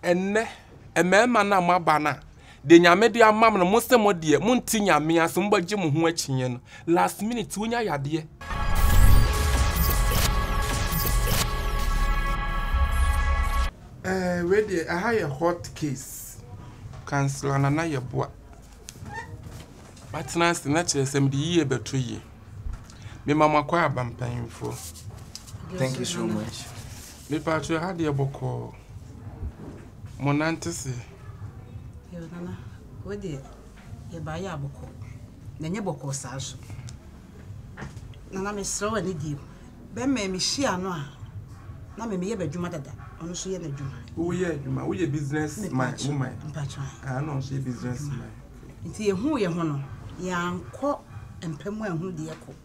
Ɛnnɛ, mmarima no a moaba no a, deɛ Nyame de ama mo no, mo se mo deɛ, monte Nyame ase, mobɛgye mo ho akyinnye no. Last minute, wonya yadeɛ. Ɛɛ wei deɛ ɛha yɛ hot case. Councillor Nana Yeboah, matena ase na kyerɛ sɛ mede yie bɛto yie. Mema mo akwaaba mpanyinfoɔ. Thank you so much. Mepatro ɛha deɛ bɔkɔɔ. mo nante se. Yo nana wei deɛ yɛbaeɛ a bɔkɔ na ɛnyɛ bɔkɔɔ saa nso nana mesrɛ wo ani die mu bɛmɛ mehyia no a na me meyɛ bɛdwuma dada ɔno nso yɛ n'adwuma woyɛ adwuma woyɛ business man woman mpatwa ah na ɔnso yɛ business man nti yɛhu yɛ ho no yɛankɔ mpa mu anhu deɛ kɔ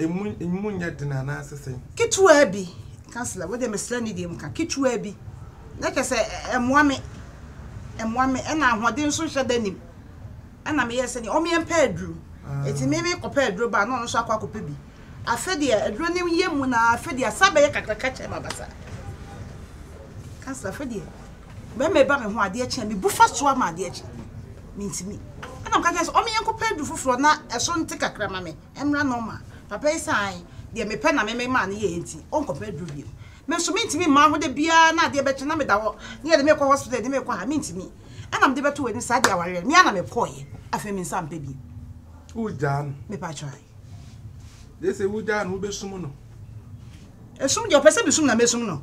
Emu nyɛ den anaasɛ sɛn? Ketewaa bi, councillor, wo deɛ mesrɛ ne deɛ mu ka, ketewaa bi, na kyɛ sɛ ɛmoa me, ɛmoa me, ɛna ahoɔden nso nhyɛ da nim, ɛna meyɛ sɛ deɛ ɔmeɛ mpɛ aduro, ɛti me me kɔpɛ aduro ba na ɔno nso akɔ akɔpɛ bi, afɛ deɛ aduro ne yɛ mu na afɛ deɛ asa bɛyɛ kakraka kyɛ ma basa, councillor afɛ deɛ. Bɛma ɛba me ho adeɛ kye a, mebu fa so ara ma adeɛ kye. Mentumi. Ɛna meka kyerɛɛ no sɛ, Ɔme yɛnkɔpɛ aduru foforɔ na ɛso nte kakra ma me mmra normal. Papa yi sɛ, Ae, deɛ mepɛ na me me maa no yɛeɛ nti, ɔnkɔpɛ aduru bio. Me nso mentumi mmaa hɔ da biara na adeɛ bɛkye na meda hɔ na yɛde me rekɔ hospital, yɛde me rekɔ ha. Mentumi. Ɛna mede bɛto w'anim, saa deɛ awareɛ no, me ara na mekɔeɛ. Afei me nsa mpɛ bio. Wogyaa no? Mepakyɛw, ae. Gye sɛ wogyaa no, wobɛsum no. Ɛsum deɛ ɔpɛ sɛ mesum na mɛsum no.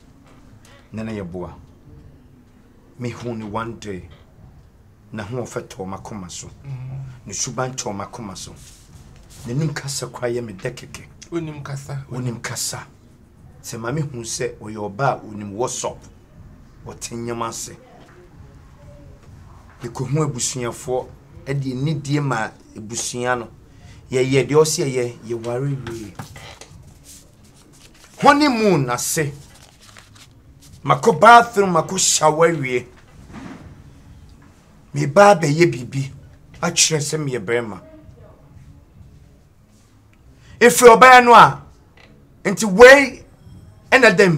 na na yɛboa. Mehuu no one day. N'ahoɔfɛ tɔɔ m'akoma so. Ne suban tɔɔ m'akoma so. N'anim kasa koraa yɛ me dɛ kɛkɛ. Onim kasa. Onim kasa. Sɛ maame hu sɛ ɔyɛ ɔbaa a onim WhatsApp. Ɔte nneɛma ase. Yɛkɔhu abusuafoɔ de anidie ma abusua no. Yɛyɛ deɛ ɔsɛ yɛyɛ, yɛware wie. honeymoon ase makɔ bathroom makɔ shower awie meba abɛyɛ biribi akyerɛ sɛ meyɛ barima ɛfiri ɔbɛyɛ no a nti wei ɛna dɛm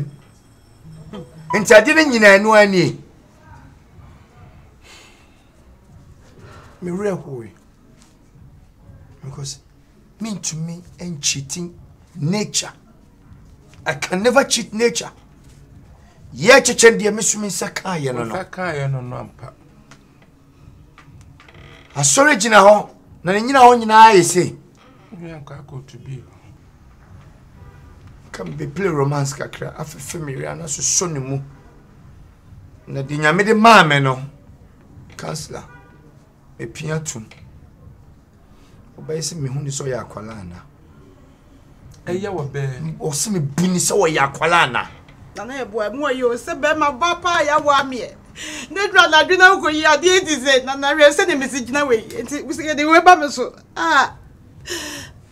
nti ade no nyinaa ɛno anie mewerɛ hoe because Mentumi nkyiti nature. I can never cheat nature. Yɛ kyekyɛ deɛ mesumi nsa kaayɛ no no. Nsa kaayɛ no no ampa. Asɔre gyina hɔ na ne nyina hɔ nyinaa yɛ sei. Nua nkɔ akɔtu bi. Ka mbe play romance kakra afefe me wia na soso ne mu. Na de nyame de maa me no. Counselor. Mepia to mu. Ɔbɛyɛ sɛ mehu ne sɛ ɔyɛ akwala ana. Ɛyɛ wɔ bɛɛ. Ɔsɛ me bu ne sɛ ɔyɛ akwala ana. Na na ɛboa ɛmu ɔyɛ o sɛ bɛrima ba paa ya wɔ ameɛ. Ne dura na adwene ahu yi adeɛ ti sɛ na na hwɛ sɛ ne mesi gyina wei nti sɛ yɛde wei ba me so ah.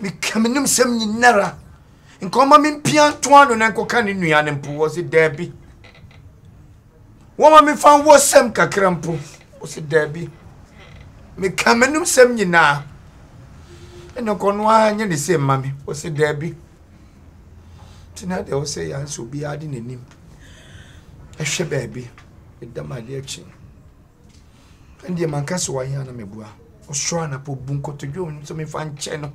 meka me nom sɛm nyinara nka ɔma me mpia nto ano na nkɔka ne nua no mpo wɔ se daabi wɔma mefa nwɔ sɛm kakra mpo wɔ se daabi meka me nom sɛm nyinaa ɛna nkɔno ara nyɛ ne se mma me wɔ se daabi nti na deɛ wɔ sɛ yɛanso obiara de n'anim ɛhwɛ baabi ɛdam adeɛ kye Ɛndeɛ manka sɛ wayɛ ana mɛboa ɔsoro anapɔ bu nkotodwe wɔn nso mefa nkyɛ no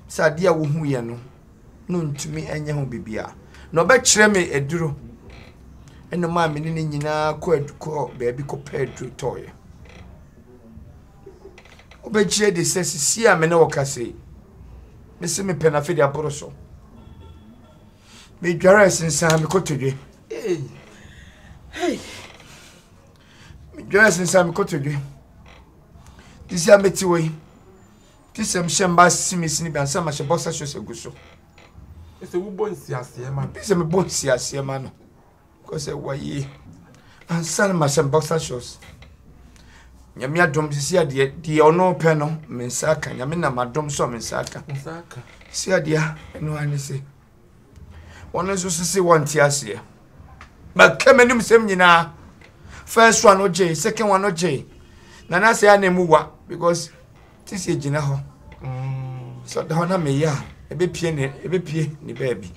sɛ adeɛ a wohu yɛ no no ntumi ɛnyɛ ho biribi a na ɔbɛkyerɛ me aduro ɛna maa me ne ne nyinaa kɔ kɔ baabi kɔpɛ aduro tɔɔyɛ wobɛkyerɛ de sɛ sisi a me ne wɔka sei mese mepɛ no afei aboro so medware sensaa me kotodwe hey. Hey. medwɛɛ sensɛ mekotodwe te sɛ mete wɔ yi te sɛ mehyɛ mba simisi no bi ansa mahyɛ bɔsa hyɛ sɛ gu so ɛsɛ wobɔ nsiaseɛ ma no sɛ mebɔ nsiaseɛ ma no kɔ sɛ wɔyie ansa no mahyɛ bɔsa shows nyame adom sisi adeɛ deɛ ɔno pɛ no me nsa aka nyame nam adom sɔ me nsa aka sisi adeɛ ɛno ane se wɔn nso so se wɔnte aseɛ bɛka m'anim sɛm nyinaa first one ogye second one ogye na na sɛ ana mu wa because te sɛ gyina hɔ mm. sɛ ɔda hɔ na meyɛ a ɛbɛpie ne ɛbɛpie ne baabi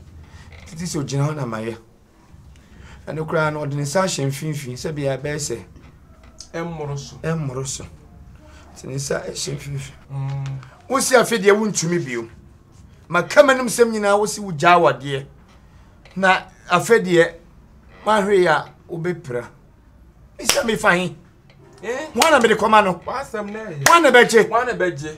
tete sɛ ogyina hɔ na mayɛ Ɛno koraa no, ɔde ne nsa ahyɛ mfimfini sɛ bia ɛbɛyɛ sɛ ɛmmoro so. Ɛmmoro so. Te ne nsa ahyɛ mfimfini. Mm. Wosi afe deɛ wontumi bio. Maka m'anom sɛm nyinaa wosi wogyaa wadeɛ. Na afe deɛ mahwere a wobɛpira. Mesɛ mefa he. Eh? Wana mede kɔma no? Wasɛm na ɛyɛ. Wana bɛgye? Wana bɛgye?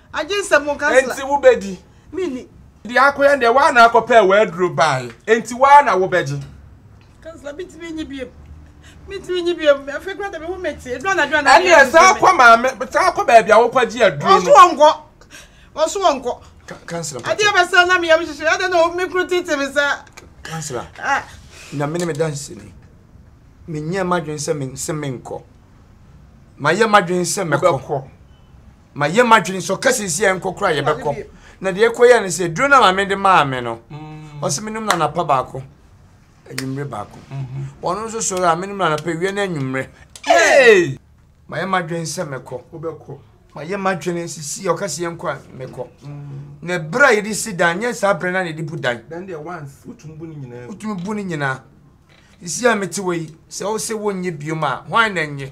Enti wobɛdi? Deɛ akoyɛ no deɛ, woa na akɔpɛɛ w'aduro baeɛ, enti woa na wobɛgye. Ɛnneɛ san kɔ maame, san kɔ baabi a wokɔgye aduro no. Councillor, ah. nyame ne me danseni, menyɛɛ m'adwene sɛ mense menkɔ, mayɛ m'adwene sɛ mɛkɔ. ma yɛ madwene sɛ ɔka sɛ si a ɛnkɔ kora yɛbɛkɔ na deɛ ɛkɔ yɛ no sɛ duro no maame de maa me no mm. ɔsɛ menom no anapa baako anwummerɛ baako mm-hmm. ɔno nso sɔre a menom no anapa awia no anwummerɛ ma yɛ madwene sɛ mɛkɔ ma yɛ madwene sɛ si a ɔka sɛ yɛnkɔ a mɛkɔ mm. na berɛ a yɛde si dan nyɛ saa berɛ no na yɛde bu dan wotumi bu no nyinaa ɛsi a mete wɔ yi sɛ wo sɛ wonyɛ biom a hwan na nyɛ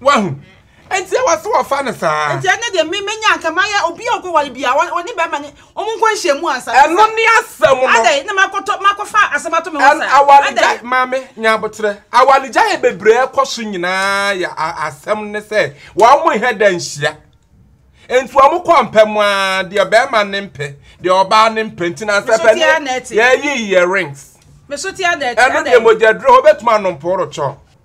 Wahu? Enti ɛwɔ sɛ wɔfa no saa. Enti ɛnɛ deɛ me menya anka mayɛ obi a ɔkɔware bia ɔne bɛrima ne wɔn nkɔ nhyiamu ansa. Ɛno ne asɛm no. Adɛn na makɔtɔ makɔfa asɛm ato me ho saa. Awaregya maame nya aboterɛ. Awaregya yɛ bebree ɛkɔ so nyinaa yɛ asɛm ne sɛ wɔn mo nhɛ da nhyia. Enti wɔn kɔ mpɛ mu ara deɛ bɛrima ne mpɛ deɛ ɔbaa ne mpɛ nti na nsɛpɛ ne yɛyi yɛ rings. Meso tia dɛɛte. Ɛno deɛ mogyaduro hɔ bɛtuma anomporo kyɔ.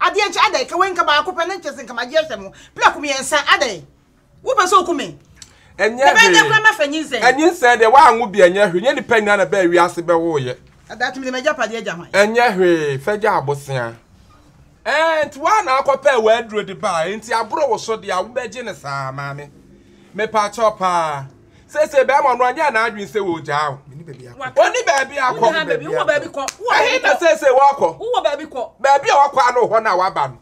Adeɛ nkyɛ adɛn? Ka wei nka baako pɛ ne nkyɛ sɛ nka magye ahyɛ mo prɛko mmiɛnsa adɛn? Wopɛ sɛ oku me? Ɛnyɛ hwee. Ɛbɛyɛ dɛ koraa mɛfa nyinsɛn. Nyinsɛn deɛ woanwo bi ɛnyɛ hwee. Ɛnyɛ nnipa nyinaa na ɛbaa wiase bɛwoeɛ. Daakye mede m'agyapadeɛ agya hwan? Ɛnyɛ hwee. Fa gya abosea. Ɛɛ nti woa na akɔpɛɛ w'aduro de baa? Nti aboro wo so deɛ a wobɛgye no saa? Maame, mepa kyɛw paa. Seesei bɛrima no anyɛ n'adwene sɛ ɔregyaa wo. Ɔnni baabi akɔ. Ɛhe na seesei wakɔ? Baabi a wakɔ ano hɔ na waba no.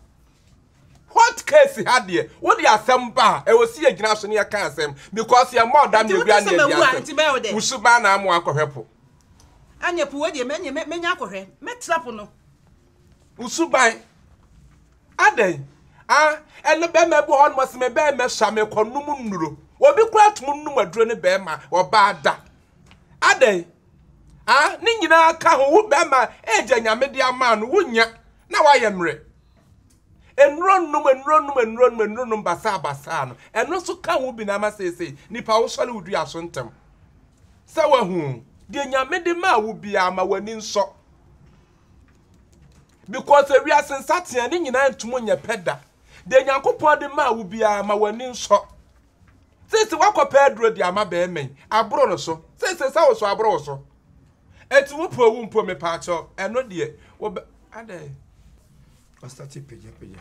Hot case ha deɛ, wode asɛm ba a, ɛwɔ sɛ yɛgyina so na yɛka asɛm because yɛmmɔ dam na ɛwura ne adi asɛm. Wo suban na ama wakɔhwɛ po. Ɛnneɛ po wei deɛ, mɛnya akɔhwɛ. Mɛtra po no. Wo suban. Adɛn? Ah, ɛno bɛrima bi wɔ hɔnom ɔse me bɛrima sua me kɔ nom nnuro. Obi koraa tumi nom aduro ne bɛrima, ɔbaa da. Adɛn? Ah, ne nyinaa ka ho, wo bɛrima age a Nyame de ama no wonya na wayɛ mmerɛ. Nnuro nom, nnuro nom, nnuro nom, nnuro nom basaa basaa no, ɛno nso ka ho bi na ama seesei nipa wosɔre wo dua so ntɛm. Sɛ wahu o, deɛ Nyame de maa wo biara ma w'ani nsɔ. Because ewiase nsateaa ne nyinaa ntum nyɛ pɛ da. Deɛ Nyankopɔn de maa wo biara ma w'ani nsɔ. Seesei woakɔpɛ aduro de ama barima yi, aboro no so. Seesei sɛ wo so aboro wo so. Enti wo pɛ owu mpo mepaakyɛw, ɛno deɛ, wobɛ, adɛn? Wasate pagyapagya.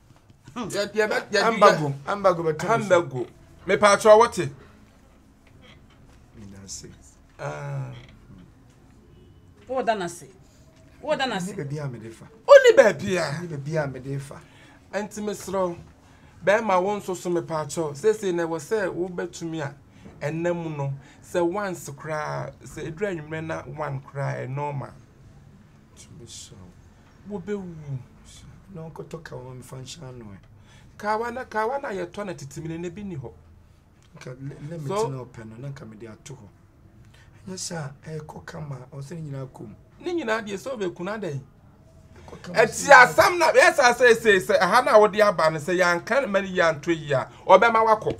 ambago ambago bɛ tɛn ambago me pa atwa wɔte nase ah wo da nase wo da nase baabi a me de fa o ni baabi a ni baabi a me de fa anti me srɛ bɛrima wo nso so me pa atwa sese na wɔ sɛ wo bɛtumi a ɛnna mu no sɛ once koraa sɛ edura nwumrɛ na one koraa ɛ normal tumi srɛ wobɛwuwu. Na ɔnkɔtɔ kawa ma mefa nhyɛ ano ɛ. Kawa na kawa na yɛtɔ na tete mene na ebi ni hɔ. Nka limit so, na ɔpɛ no na nka mede ato hɔ. Ɛnyɛ sɛ a ɛkɔ kama ɔsɛ ne nyinaa kɔm. Ne nyinaa deɛ sɛ ɔbɛkunu adɛn. Ɛti asɛm na yɛsa sɛ ɛsɛ sɛ aha na wode aba no sɛ yɛanka ma ne yɛantɔ yi a ɔbɛma wakɔ.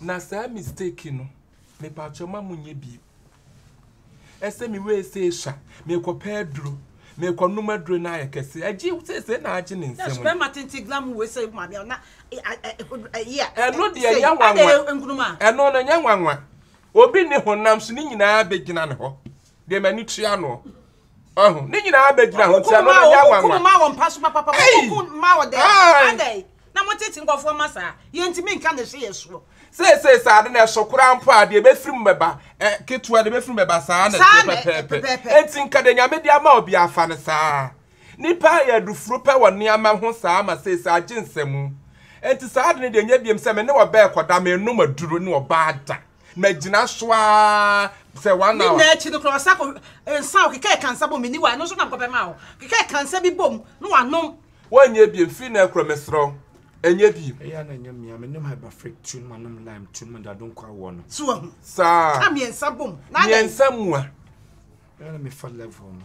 Na saa mistake no, mepatwɔ ma mo nyɛ bi. Ɛsɛ mi wei sɛ esha, mi kɔ pɛ aduro, mi kɔ num aduro na ayɛ kɛse. Agye sɛ sɛ na agye ne nsɛm. Na sperma tenten glam wei sɛ maame a na ɛyɛ a. Ɛno deɛ nyɛ nwanwa. Ɛno no nyɛ nwanwa. Obi ne honam so ne nyinaa bɛgyina ne hɔ. deɛ m'ani tua noɔ ɔho ne nyinaa bɛgyina ho nti ɛno no nyɛ awanwa ɔkukum ma wɔ mpa so papapa ɔkukum ma wɔ dɛn adɛn na motete nkɔfoɔ ma saa yɛntumi nka ne hwe yɛ soɔ seesei saa de na ɛso koraa mpo a deɛ ɛbɛfiri mu bɛba ketewa deɛ ɛbɛfiri mu bɛba saa na ɛteɛ pɛpɛɛpɛ enti nka deɛ nyame de ama obi afa no saa nipa yɛ adufuro pɛ wɔ nneɛma ho saa ma seesei agye nsɛmu enti saa de no deɛ nyɛ biam sɛ me ne ɔbɛɛ kɔda menom aduro ne ɔbaa da magyina so ara sɛ one hour. ne nyinaa akyi no koraa ɔsa kɔ nsa a ɔkeka ɛkansa bom meni wa ɛno nso na mekɔpɛ ma wo keka ɛkansa bi bom na wanom wɔnyɛ biem firi na ɛkorɔ meserɛ wo ɛnyɛ biem ɛyɛ na ɛnyɛ mmea menom hyberfric tun manom lime tun madado nkɔ awoɔ no so ahu saa ka mmiɛnsa bom na adɛn mmiɛnsa mua ɛyɛ na mefa level no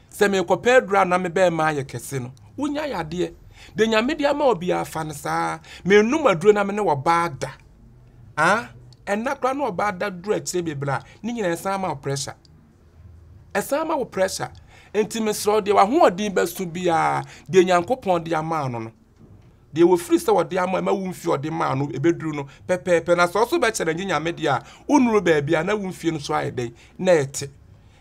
Sɛ merekɔpɛ aduru a na me bɛmma ayɛ kɛse no, wonya yadeɛ. Deɛ Nyame de ama wo biara fa no saa. Mennom aduro na me ne ɔbaa da. Ah, ɛnna koraa na ɔbaa da duru akyire bebree a, ne nyinaa ɛsan ma wo pressure. Ɛsan ma wo pressure. Enti mesrɛ wo deɛ w'ahoɔden bɛso biara, deɛ Nyankopɔn de ama no no, Deɛ wɔfiri sɛ wɔde ama ma wo mfie ɔde maa no ɛbɛduru no pɛpɛɛpɛ na sɛ ɔso bɛkyɛ na nye nyame deɛ a wonuru baabi a na wo mfie no so ayɛ dɛn na ɛte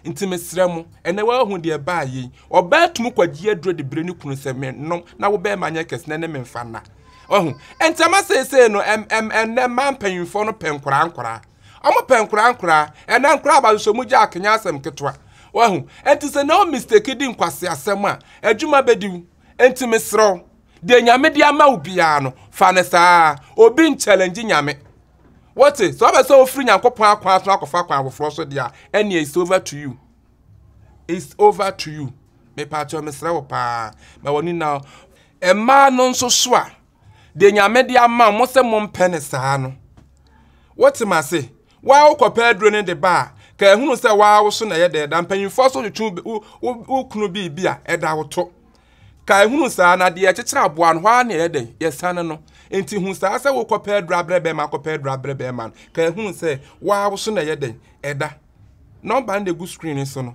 nti mesrɛ mo ɛnɛ woahu deɛ ɛbaa yei ɔbaa tumu kwagye aduro de brɛ ne kunu sɛ me nom na wo bɛɛma nyɛ kɛse na ne me mfa nna wahu ɛnti ama seesei no ɛm ɛm ɛnɛ mmaa mpanyinfoɔ no pɛ nkoraa nkoraa ɔmo pɛ nkoraa nkoraa ɛnɛ nkoraa ba so mo gya akenya asɛm ketewa wahu ɛnti sɛ na o mistake di nkwase asɛm a adwuma bɛdi wo Enti mesrɛ wo, deɛ Nyame de ama wo biara no, fa no saa. Obi nkyɛlɛngye Nyame. Wote? Sɛ wopɛ sɛ wofiri Nyankopɔn akwan so akɔfa akwan foforɔ so deɛ a, ɛnneɛ it's over to you. It's over to you. Mepaakyɛw mesrɛ wo paa, ma w'ani na. Mmaa no nso so a, deɛ nyame de ama mo sɛ mompɛ ne saa no wote ma se waa wokɔpɛ aduro no de ba a ka ehunu sɛ waa wo so na ɛyɛ dɛ da mpanyinfoɔ so twetwe wo kunu biribi a ɛda wo to ka ehunu saa na deɛ ɛkyekyere aboa no hɔ ara na ɛyɛ dɛ yɛsane no nti hu saa sɛ wokɔpɛ aduro abrɛ bɛrima akɔpɛ aduro abrɛ bɛrima no ka ehunu sɛ waa wo so na ɛyɛ dɛ ɛda nɔmba no de gu screen so no